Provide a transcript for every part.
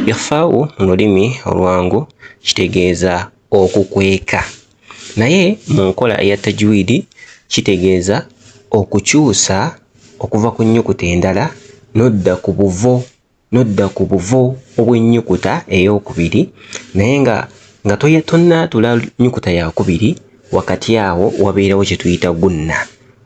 Ikhfau mu lulimi olwangu kitegeeza okukweka, naye mu nkola eya tajwiidi kitegeeza okukyusa okuva ku nnyukuta endala n'odda ku buvo n'odda ku buvo obw'ennyukuta eyookubiri naye nga nga tonaatula nnyukuta yaakubiri wakati awo wabeerawo kye tuyita gunna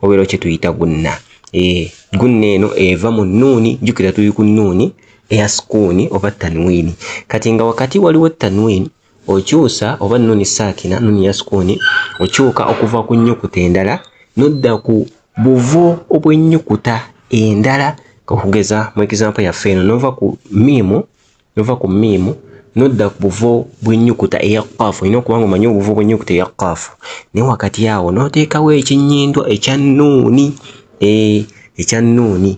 wabeerawo kye tuyita gunna ee eh, gunna eno eva mu nnuuni jjukira tuli ku nnuuni eya sukuuni oba tanwiini. Kati nga wakati waliwo tanwiini, okyusa oba nuuni saakina, nuuni ya sukuuni, okyuka okuva ku nnyukuta endala n'odda ku buvo obw'ennyukuta endala. Okugeza mu egizampo yaffe eno, n'ova ku miimu, n'ova ku miimu n'odda ku buvo bw'ennyukuta eya kkaafu. Olina okuba ng'omanyi obuvo bw'ennyukuta eya kkaafu, naye wakati awo n'oteekawo ekinnyindwa ekya nuuni, eh, ekya nuuni.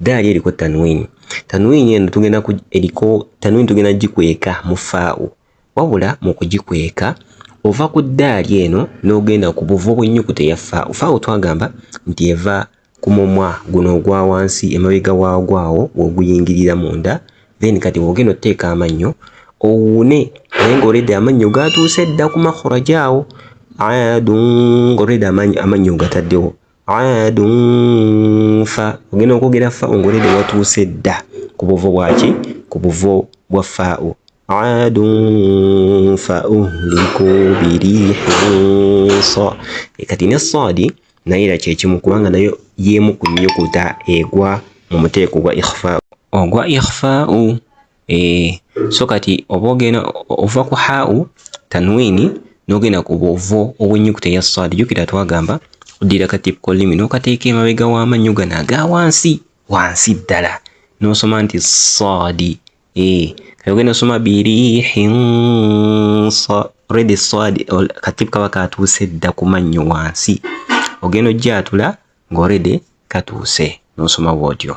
Daali eriko tanwini. Tanwini eno tugenda eriko tanwini tugenda gikweka mu faawo. Wabula mu kugikweka ova ku daali eno n'ogenda ku buvo bw'ennyukuta eya faawo. Faawo twagamba nti eva ku mumwa guno ogwa wansi emabega waagwo awo w'oguyingirira munda then kati bw'ogenda oteeka amannyo owuune naye ng'olede amannyo gaatuuse dda ku makhuraja awo adu ng'olede amannyo ogataddewo. aadun fa ogenda okwogera fa ongolede watuuse dda ku buvo bwaki ku buvo bwa faau aadun fa uhliku birihinsa kati ne saadi naye era kyekimu kubanga nayo yemu ku nyukuta egwa mu muteeko gwa ikhfa ogwa ikhfau eh so kati oba ogenda ova ku hau tanwini nogenda ku bwovo obwenyukuta eya saadi jukira twagamba oddira katipko limi nokateeka emabega w'amannyo gano aga wansi wansi ddala nosoma nti saadi eh kati ogenda osoma birihin redi saadi katip kaba katuuse dda ku mannyo wansi ogenda ojja atula ng'orede katuuse nosoma bwotyo